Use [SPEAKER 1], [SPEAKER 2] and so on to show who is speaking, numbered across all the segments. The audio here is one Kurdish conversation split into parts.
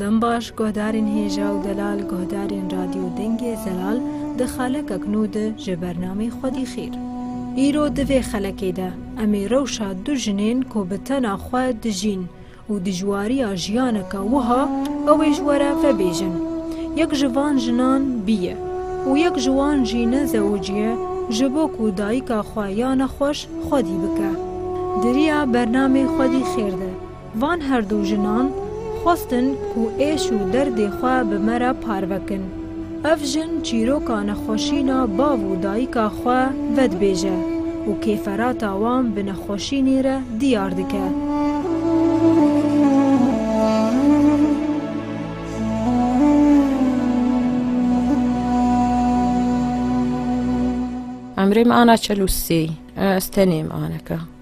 [SPEAKER 1] Dembaş, guhdarên hêja û delal guhdarên Radyo Dengê Zelal di xalekek nû de ji bernamê Xwedî Xêr. Îro di vê xelekê de em ê rewşa du jinên ku bi tena xwe dijîn û dijwariya jiyaneke wiha ew ê ji we re vebêjin. Yek ji van jinan bî ye û yek ji wan jî ne zewicî ye ji bo ku dayika xwe ya nexweş Xwedî bike. Di riya bernamê Xwedî Xêr de Van her du jinan xwestin ku êş û derdê xwe bi me re parve kin. Ev jin çîroka nexweşîna bav û dayika xwe vedibêje û kêferata wan bi nexweşînê re diyar dike.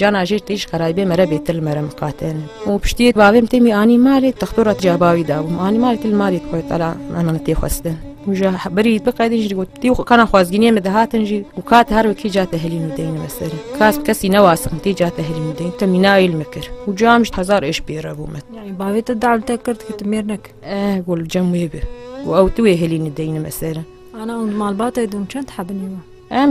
[SPEAKER 2] Cana jê têj xerayîbê me re bêtir li me re miqatene. Û piştiyê bavêm têmî anî malê textora tê bavî dabûm. Anî malê tê li malê xwe tala ana min tê xwestin. Û ji berî bi qedî jî got tî kana xwazgîniyê me dihatin jî û kat her wekî ca te hilîn û deyni me serê. Kas bi kesî newasin tê ca te hilîn û deyn te mînayê li me kir. Û ca min ji hezar êş pê re bû min. Yani bavê te dal
[SPEAKER 1] te kir ki tu mêr nekir. Eh gol cem wê
[SPEAKER 2] bi. Û ew tu wê hilîn û deyni me serê. Ana und malbatê
[SPEAKER 1] dûm çend hebinî me. Em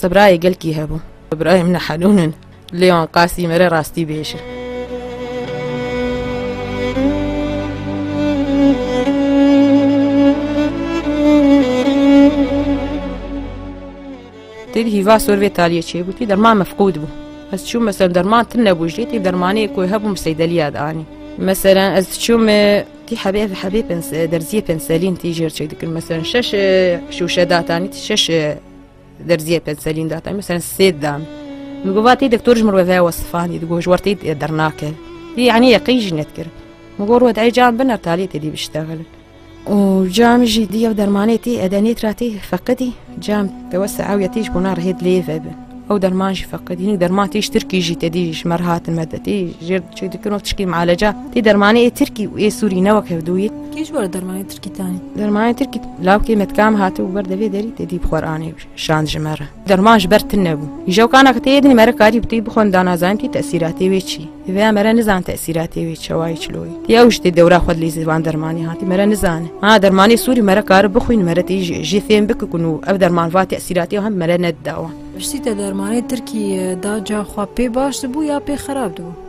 [SPEAKER 2] Sebrayê gelkî hebû. Sebrayê min helûn in. Lêwan qasî mere rastî bêje. Têdî hîva sor vê taliyê çêbûtî derman mefqûd bû. Ez çûm mesela derman tin nebû jê tê dermanê ku hebûm seydeliya danî. Mesela ez çûm tî hebê hebê pens derziyê penselîn tî jêr çêdikin mesela şeş şûşe datanî tî şeş Derziyê pê selîn da te mesela sêd dan. Min got vatê doktor ji mir ve ve wesifan dî got ji wer tê dernake. Dî yanî yeqîn jî nedkir. Min got wet ey can biner taliyê tê dî biştexil. û cam jî dî ev dermanê tê edenê tra tê feqidî cam te we seewiye tê ji bona rihêt lê ve bin. Ew derman jî feqidî hinek derman tê ji Tirkî jî te dî ji me re hatin me de tê jêr diçe dikin û tişkî mieleca tê dermanê ê Tirkî û ê Sûrî ne wek hevdûyê. Kê ji wer dermanê
[SPEAKER 1] Kitani. Dermanê Tirkî
[SPEAKER 2] lawkê me dikam hate û ber devê derî tedî bi Qur'anê şand ji me re. Derman ji ber tine bû. Îja kana ki têyê dinî mere karî bi têyî bixwend da nazanin tî tesîratê wê çî. Vêya mere nizan tesîratê wê çewayî çiloyî. Tê ew ji tê dewra xwe lê zivan dermanê hatî mere nizane. Ha dermanê Sûrî mere kari bixwîn mere tê jê fêm biki ku nû ev derman va tesîratê hem mere nedida wan. Piştî te dermanê
[SPEAKER 1] Tirkî da ca xwe pê baş dibû ya pê xerab dibû?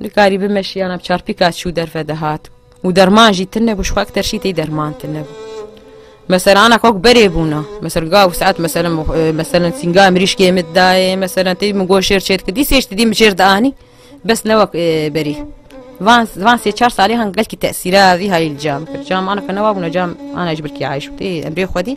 [SPEAKER 2] Nikarî bime şiyana bi çarpîka çû derve dihat û derman jî tune bû xwek terşî tê derman tune bû. Mesela ana kok berê bûna mesela gav saet mesela mesela sînga mirîşkê min dayê mesela tê min goşêr çêt kidî sêj didî min jêr dianî bes ne wek berî. Van van sê çar salê han gelkî tesîra vî hayîl cam kir. Cam ana ke newa bûna cam ana ji birkî ayîş tê emrê xwedî.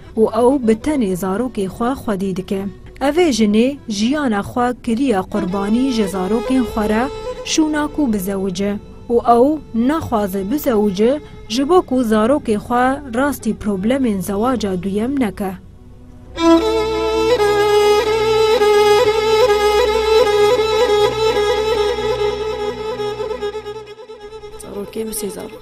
[SPEAKER 1] Û ew bi tenê zarokê xwe xwedî dike. Evê jinê jiyana xwe kiriye qurbanî ji zarokên xwe re şûna ku bizewice. Û ew naxwaze bizewice ji bo ku zarokê xwe rastî problemên zewaca duyem neke.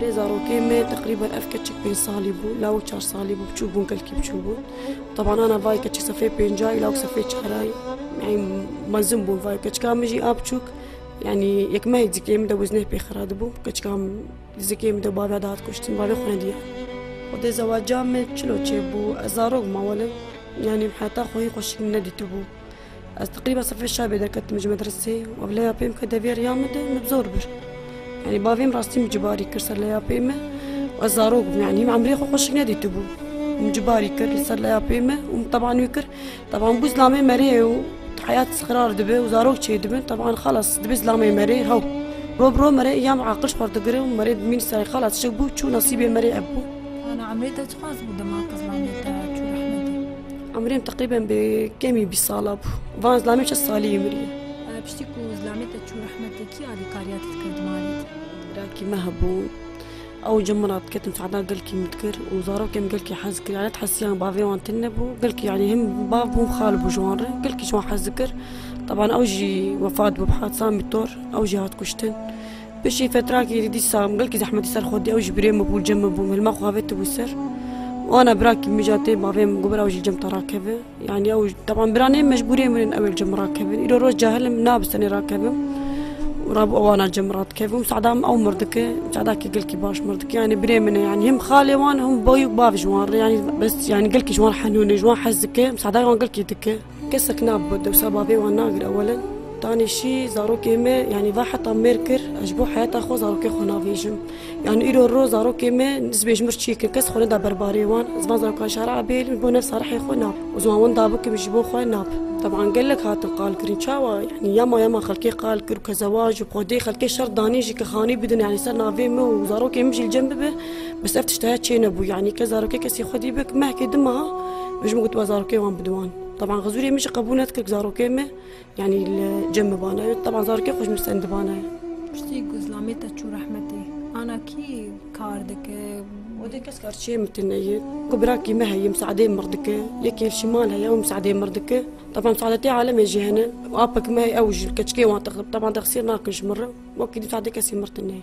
[SPEAKER 3] Lê zarokê me teqrîben ev keçik pênc salî bû, lawik çar salî bû, biçûk bûn kelkî biçûk bûn. Taban ana vayê keçik sefê pêncayî, lawik sefê çarayî. Yani mezin bûn vayê keçika min jî a biçûk. Yani yekmeyê dizikê min de wê zîneh pê xira dibû. Keçika min dizikê min de baviya dihat kuştin, bavê xwe nediya. Xwedê zewaca min çilo çêbû, ez zarok ma welim yani heta xwehî xweşik nedîtibû. Ez teqrîba sifê şabê derketim ji medresê û leya pê min ke deviya riya min de min bi zor bir. Yani bavê min rastî min cibarî kir ser leya pê min û ez zarok bûm yani min emrê xwe xweşik nedîtibû. Min cibarî kir li ser leya pê min û min teban wî kir teban bû zilamê merê ye û heyat xirar dibe û zarok çêdibin teban xelas dibe zilamê merê hew. Roj bi roj merê îyam aqiliş xwe digire û merê bi mîn serê xelas çi bû çû nesîbê merê ev bû. Ana
[SPEAKER 1] emrê te çiqas bû dema te zilamê te çû rehmete. Umrê min teqrîben
[SPEAKER 3] bi kemî bîst sala bû. Van zilamê çi salî yê mirî. Piştî ku
[SPEAKER 1] zilamê te çû rehmetê kî alîkariya te dikir di malê te? Rakî me
[SPEAKER 3] hebû. Ew ji min re diketin feda gelkî min dikir û zarokên min gelkî hez dikir. Elet hesiyan bavê wan tune bû. Gelkî yanî him bav bû him xal bû ji wan re. Gelkî ji wan hez dikir. Teban ew jî wefat bû bi hadisa mîtor. Ew jî hat kuştin. Piştî fetrakê êdî dîsa em gelkî zehmetî ser xwe dî ew ji birê min bû cem min bû hilma xwe vê tibû ser wana birakî min jî tê bavê min got ew ji cem te rakeve yanî ew teban bira nê mecbûrê min in ew ê li cem rakevin îro roj cahil im nab senê rakevim rabû ewana cem radikevim sada min ew mirdike cadakî gelkî baş mirdike yanî birê min e yanî him xalê wan him boyû bav ji wan re yanî bes yanî gelkî ji wan henûn e ji wan hez dike sada wan gelkî dike Kesek nabû dewsa bavê wan nagir ewelen. Tanê şî zarokê me yanî va heta mêr kir ez ji bo heyeta xwe zarokê xwe navêjim. Yanî îro ro zarokê me nisbê ji mir çîk in kes xwe neda ber barê wan. Ez van zarokan şara Ebêlî ji bo nefsa rihê xwe nab û ziwan winda bikim ji bo xwe nab. Teban gelek hatin qalkirin çawa yanî yama yama xelkê qal kir û kezewa ji xwedê xelkê şert danî jî ke xanî bidin yanî ser navê me û zarokê min jî li cem bibe. Bes ev tiştaya çê nebû yanî ke zarokê kesî xwedî bik mehkê di meha min ji min gotiba zarokê wan bi diwan. Taban xizûrê min jî qebûl nedikir zarokê me yanî li cem bibane. Taban zarokê xwe ji min sendibane. Piştî ku zilamê
[SPEAKER 1] te çû rehmetê ana kî kar dike? Odê kes
[SPEAKER 3] kar çê min tune ye. Ku birakî me heye misadê mir dike. Yekê li şimal heye ew misadê mir dike. Taban misadetê alemê jî hene. Apek me heye ew ji keçikê wan taban texsîr nakin ji min re. Wekî di misadê kesî mir tune ye.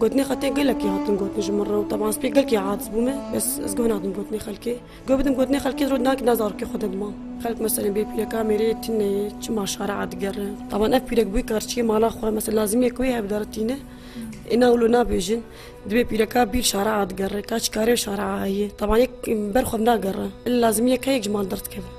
[SPEAKER 3] Gotinê xwe tê gelekî hatin gotin ji min re û teban ez pê gelkî aciz bûme bes ez guh nadim gotinê xelkê. Guh bidim gotinê xelkê ji roj nakî ne zarokê xwe de dima. Xelk meselên bê pîreka mêrê yê tîne yê çima şare a digerin. Teban ev pîrek bûyî karçîyê mala xwe mesel lazimî ku wê hev de re tîne ê na wilo nabêjin. Dibê pîreka bîr şare a digere ka çi karê şare a heye. Teban yek ber xwe bi nagere. Illa lazimî yek heye yek ji mal derdikeve.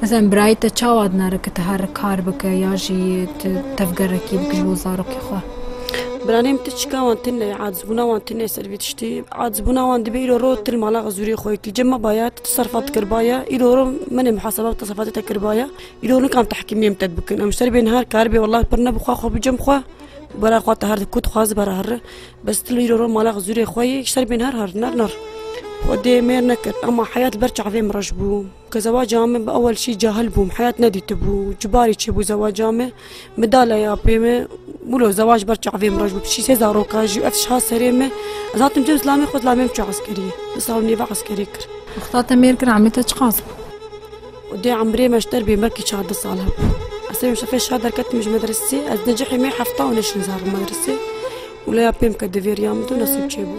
[SPEAKER 1] Mezelen birayê te çawa dinare ku tu her kar bike ya jî tu tevgerekî bike ji bo zarokê xwe? Biranêm
[SPEAKER 3] tu çika wan tune ye, acizbûna wan tune ser vê tiştî. Acizbûna wan dibe îro ro til mala xizûrê xwe yekî. Cem me baye tu teserfat kiribaye, îro ro min ê muhaseba bi teserfatê te kiribaye. Îro nikan tehkîmiyên te bikin. Em ji ser bên her kar bê walahi pir ne bi xwe xwe bi cem xwe bara xwe te her di ku dixwaze bara herre. Bes til îro ro mala xizûrê xwe yê ji ser bên her her nar nar. Xwedê mêr nekir ema heyat li ber çavên min reş bû. Ke zewaca me bi ewel şî cahil bûm heyat nedîtibû çi barî çêbû zewaca me bi dale ya pê me wilo zewac ber çavê min re ji bo pişî sê zaroka jî ev tişt hat serê me ez hatim cem zilamê xwe zilamê min çû eskeriyê di sal min nêve eskerî kir Xda te mêr kir
[SPEAKER 1] emê te çiqas bû û dê
[SPEAKER 3] emrê me ji der bê belkî çar di sal hebû ez serê şefê şar derketim ji medresê ez necihê me hefta û neşin zar medresê û leya pê min ke divêriya min tu nesib çêbû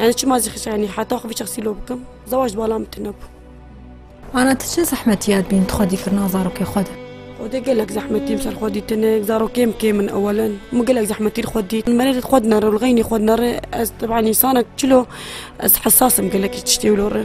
[SPEAKER 3] Yani çima zî xişa yani heta xwe bişexsî lo bikim. Zewac di bala min tune bû.
[SPEAKER 1] Ana tu çi zehmetiyat bîn tu xwe dîkirina zarokê xwe de? Xwe de gelek
[SPEAKER 3] zehmetîm ser xwe dîtinik, zarokê min kêm in ewelin. Min gelek zehmetî li xwe dît. Merê xwe dinere û li xeynî xwe dinere ez teban însanek çilo ez hesas im gelekî tiştê wilo re.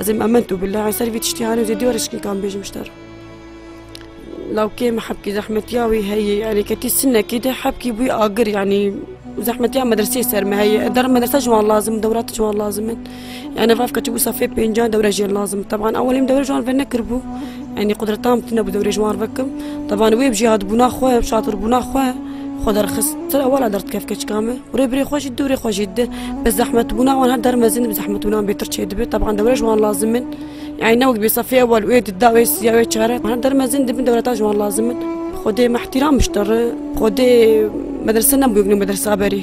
[SPEAKER 3] Ez ê ementu billah ez ser vî tiştî hanê zêdî were şikîkan bêjim ji te re. Lawkê me hebkî zehmetiya wî heye yanî ketî sinekî de hebkî bûyî agir yanî zehmetiya medreseyê ser me heye ez derim medresa ji wan lazim dewra tu ji wan lazim in. Yani ev ketibû safê pêncan dewre jê lazim teban ewelîm dewre ji wan vernekiribû Enî qudretan bi tune bi dewrê ji wan re kim. Tevan wê bi jêhatbûna xwe, bi şatirbûna xwe xwe derxist. Ti re wala derdikeve keçika me û rêbirê xwe jî dewrê xwe jê dide. Bi zehmetbûna wan her der mezin bi zehmetbûna wan bêtir çêdibe. Tevan dewre ji wan lazim in. Yanî ne wek bê sefê ewel wê di da wê siya wê çare. Her der mezin di bin dewreta ji wan lazim in. Xwedê me îhtîram bişte re. Xwedê medrese nebû yek nû medresa berî.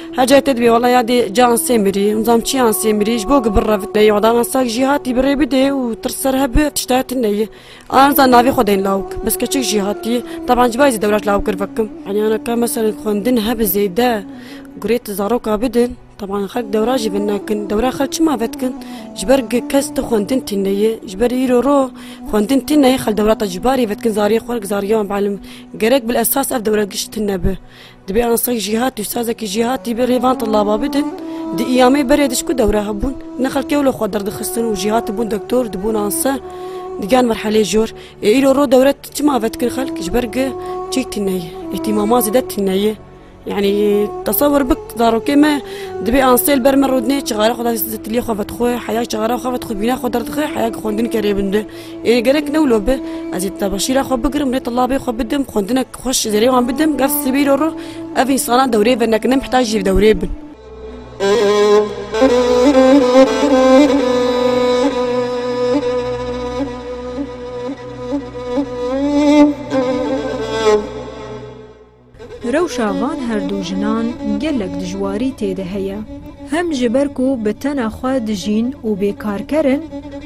[SPEAKER 3] Hecê te dibê wala ya dê can sê mirî zam çiyan sê mirî ji bo gibir revit neyê odana sak jî hatî birê bidê û tirs ser hebi tişta ti neyê an zan navê xwe deyên lawik bes keçik jî hatî teban ji bay zî dewraş lawik kirvekim aniyana ka meselên xwendin hebi zêde gurê ti zaroka bidin Taban xelk dewra jî bin nekin dewra xel çima vetkin ji ber kes ti xwendin tî neyê ji ber îro ro xwendin tî neyê xel dewra te ji barî vetkin zariyê xwe zariyan belim gerek bil esas ev dewra gişt tine bi Dibê ansek jîhatî û sazekî jîhatî bi rê van tillaba bidin. Di îyamê berê dişku dewre hebûn. Ne xelk ewle xwe derdixistin û jîhatî bûn doktor, dibûn anse. Digiyan merheleyê jor. Ê îro ro dewre çima ve dikin xelk? Ji ber gi çî tîne ye. Îhtîmaman zêde tîne ye. Yani tasavvur bik zarokê me dibê ansê li ber me rûdinê çixare xwe di tiliyê xwe vedixwe heya çixare xwe vedixwe bîna xwe derdixwe heya xwendinê ke rê binde ê gerek newlo bi ez ê tebeşîra xwe bigirim rê tilabê xwe bidim xwendinek Xweş ji derê wan bidim gef sibîr û rû ev însanan dewrê ve nekin em heta jî bi dewrê bin.
[SPEAKER 1] Rewşa van her du jinan gelek dijwarî tê de heye. Hem ji ber ku bi tena xwe dijîn û bêkarker in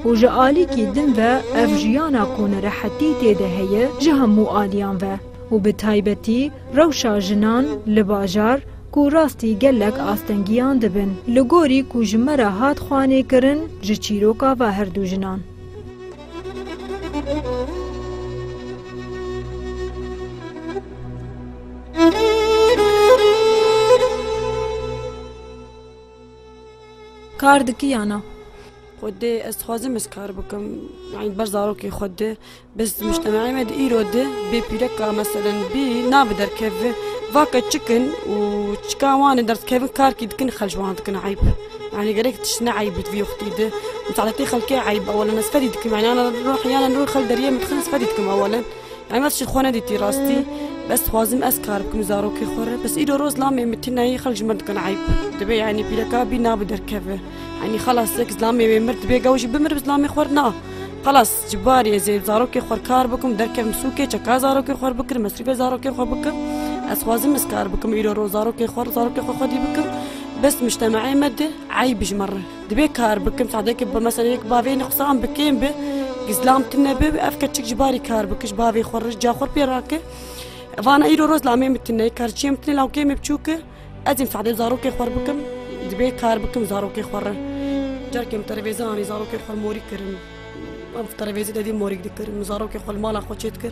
[SPEAKER 1] û ji alîkî din ve ev jiyana ku nerehetî tê de heye ji hemû aliyan ve û bi taybetî rewşa jinan li bajar ku rastî gelek astengiyan dibin li gorî ku ji me re hat xwanê kirin ji çîroka va herdû jinan. Kar dikî ya na? Xwe dê
[SPEAKER 3] ez dixwazim ez kar bikim yanî ber zarokê xwe dê biz muştemeê me di îro di bê pîreka meselen bî nabe derkeve vake çikin û çika wan ê derdikevin karkî dikin xelj wan dikin eyb yanî gerek tişt ne eyb di vî wextî di muteleqî xelkê eyb ew li me sifedî dikim yanî roh yan li rû xelk deriyê min dixin sifedî dikim ew li Emed jî xwe nedîtî rastî bes dixwazim ez kar bikim zarokê xwe re bes îro roz lamê min tî nayê xelk ji min dikin eyb dibe yanî pîreka bî nabi derkeve yanî xelas yek zilamê wê mir dibe gew jî bimir bi zilamê xwe na xelas ji barî ez ê zarokê xwe kar bikim derkevim sûkê çeka zarokê xwe bikim mesrîbê zarokê xwe bikim ez xwazim ez kar bikim îro roz zarokê xwe zarokê xwe xwedî bikim bes muştemeê me di eyb ji min re. Divê kar bikim sadekê bi mesela yek bavê ne qisa em bi kêm bi gizlam tu ne bi ev keçik ji barî kar bik ji bavê xwe rij ca xwe pê rake vana îro roz la mê mitine kar çiyê mitine la kê me biçûk e ez ê sadê zarokê xwe bikim divê kar bikim zarokê xwe re carkê em terevêze anî zarokê xwe morî kirin em terevêze dedî morî dikirin zarokê xwe li mala xwe çê dikir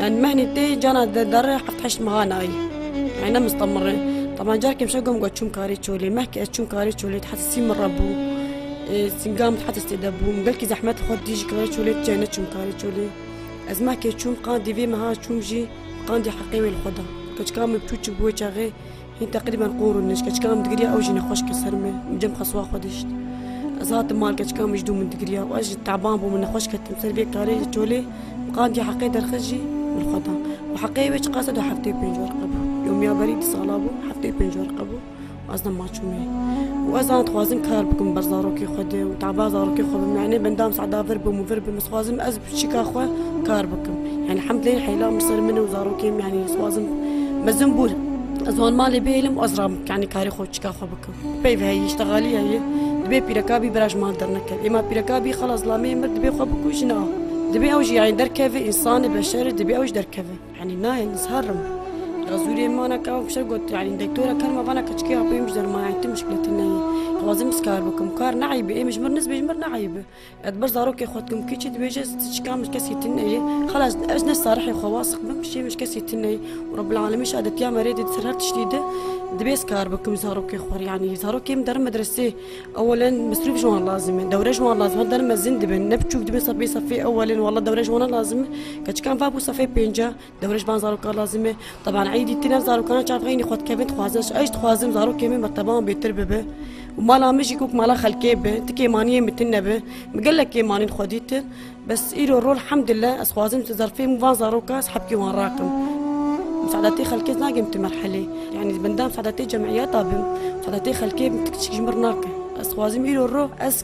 [SPEAKER 3] Yani mehni tê cana de derre heft heşt meha nayî. Yani ne mustamire. Tama carkê mişe gom got çûm karê çolê. Meh ki ez çûm karê çolê heta sî min re bû. Sîngam heta stê de bû. Min gelkî zehmet xwe dî ji karê çolê ti ne çûm karê çolê. Ez meh kê çûm qandî vê meha çûm jî qandî heqê wê li xwe da. Keçika min piçûk bû wê çaxê Hîn teqrîben qûr û nij keçika min digiriya ew jî nexweş kir ser min û cem qasuwa xwe dişt. Ez hatim mal keçika min ji dû min digiriya û ez jî teban bû min nexweş ketim ser vê karê li çolê min qandiya heqê derxist jî min xwe da û heqê wê çiqas e du heftê û pênc werqe bû. Yomiya berî du sala bû heftê û pênc werqe bû û ez dema çûme û ez an dixwazim kar bikim ber zarokê xwe de û teba zarokê xwe bim yanê bendam seda vir bim û vir bim ez dixwazim ez Piçika xwe kar bikim. Yani hemdê heyla min ser min û zarokên min yani swazim mezin bûr. Ez wan malê bêlim ez ram yani karê xwe çika xwe bikim. Peyv heyî iştegalî heyî dibê pîreka bî biraj mal dernekevî. Êma pîreka bî xelas lamê mir dibê xwe bikujin a. Dibê ew jî yani derkeve însanê beşerê dibê ew jî derkeve. Yani nayê ez herim. Razûrê min vana ka ew fişek got yani doktora ker me vana ka çikê apê min ji derman yani tu muşkiletî neyê. Xwazim ez kar bikim. Kar ne eyb e. Êmij mir niz bêj mir ne eyb e. Ez ber zarokê xwe dikim kî çi dibêje ez çikan min kesî tîn neyê xelas ez ne sarihê xwe wasix bim şê min kesî tîn neyê û Rebbil Alemîn şadetiya me rê dê ser her tiştî de dibê ez kar bikim zarokê xwe rê yanî zarokê min derin medresê ewelen misrûf ji wan lazim e dewre ji wan lazim e derin mezin dibin ne biçûk dibin sefê sefê ewelin wela dewre ji wan lazim e keçikan va bû sefê pênc e Dewrêj ban zarokan lazim e. Teban eydî tine zarokan çavxeynî xwe dikevin dixwazin. Eş dixwazim zarokê min bi teban bêtir bibe. û mala min jî kok mala xelkê be. Ti kêmaniyê min tune be. Min gelek kêmanîn xwe dîtin. Bes îro rol hemdile ez xwazim tu zerfê min van zaroka ez hebkê wan rakim. Misadetê xelkê nakim tu merhelê. Yani benda misadetê cemiyeta bim. Misadetê xelkê bim tu kiçik ji min nakim. Ez xwazim îro rol ez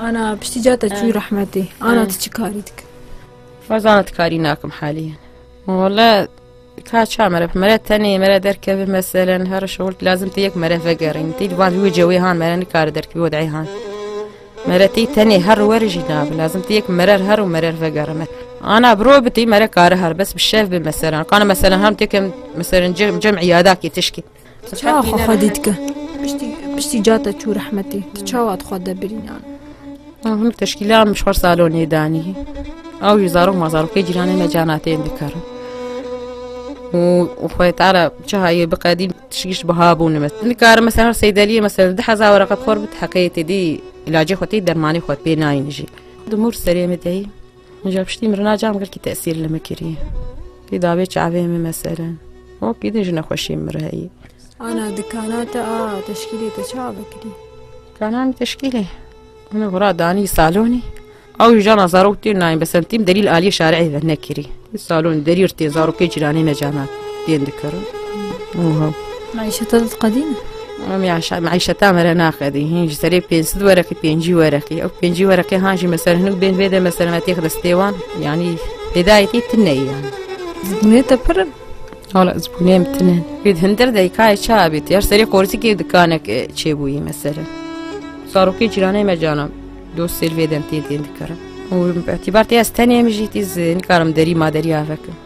[SPEAKER 1] Ana piştî ca te çû rehmetê. Ana tu çi karî dikir? Fazana
[SPEAKER 2] tu karî nakim haliyen. Wala ka ça mere mere tenê mere derkevê meselen her şol lazim te yek mere vegerîn. Tî van wê cewê han mere nikare derkevê odeyê han. Mere tî tenê her werî jî nabe lazim te yek merer her û merer vegerime. Ana bro bitî mere kare her bes bi şev bi meselen. Kana meselen hem tekem meselen cem cem îyadakê tişkî. Tu çawa xwe xwe
[SPEAKER 1] dî dike? Piştî piştî ca te çû rehmetê tu çawa tu xwe de birînan? Hûn
[SPEAKER 2] teşkîla min çar salonê danî. Ew jî zarok ma zarokê cîranê me cana tên dikarin. û xwe tara çihayê biqedîm tişgîş biha bûne me. Nikarim mesela her seydeliyê mesela di heza were qed xor bit heqê têdî ilacê xwe tê dermanê xwe pê nayîn jî. Di mûr serê me deyî. Min ji piştî mirina can girkî tesîr li min kirî. Kî davê çavê min meselin. O kî din ji nexweşiyê min re heyî. Ana di
[SPEAKER 1] kana te a teşkîlê te çawa vekirî? Kana min
[SPEAKER 2] teşkîlê. Min xura danî salonî. Ew ji jana zarok tên nayên besemtîm derî li aliyê şareyê ve nekirî. Salon derî tên zarokê cîranê me canan tên dikirin. Oho. Maîşeta te
[SPEAKER 1] qedîm e? Em ya şa
[SPEAKER 2] meîşeta me re naqedî hîn ji serê pênc sid wereqî pêncî wereqî ew pêncî wereqê han jî mesela hinek bên vê de mesela me têx de stêwan yanî hêdayetî tu neyî yan zibûnê te pir
[SPEAKER 1] Hala zibûnê
[SPEAKER 2] em tine wê hindir deykayê ça bît her serê qorsikê dikanek çêbûyî mesela sarokê cîranê me canan dost sêr vê dem tê tên dikarim û îtibar tê ez tenê em jî tîz nikarim derî ma derî avekim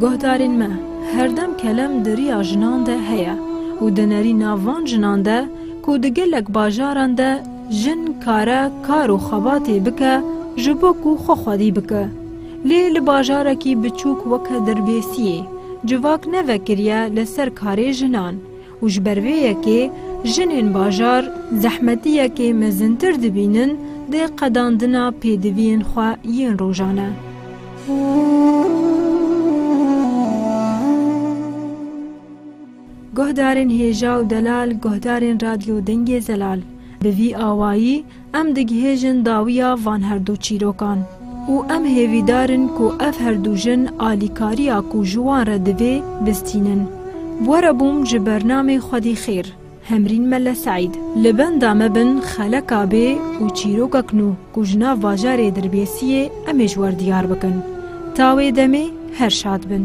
[SPEAKER 1] Guhdarên me herdem kelem di riya jinan de heye û di nerîna van jinan de ku di gelek bajaran de jin kare kar û xebatê bike ji bo ku xwe xwedî bike. Lê li bajarekî biçûk weke Dirbêsiyê civak ne vekiriye li ser karê jinan û ji ber vê yekê jinên bajar zehmetiyekê mezintir dibînin dê qedandina pêdiviyên xwe yên rojane. Guhdarên hêja û delal, guhdarên Radyo Dengê Zelal bi vî awayî Em digihêjin dawiya van her du çîrokan û em hêvîdar in ku ev her du jin alîkariya ku ji wan re divê, bistînin. Were bûm ji bernamê Xwedî Xêr, Hemrîn Melle Seîd. Li benda me bin xeleka bê û çîrokek nû ku ji nav bajarê Dirbêsiyê em ê ji wer diyar bikin. Ta wê demê her şad bin.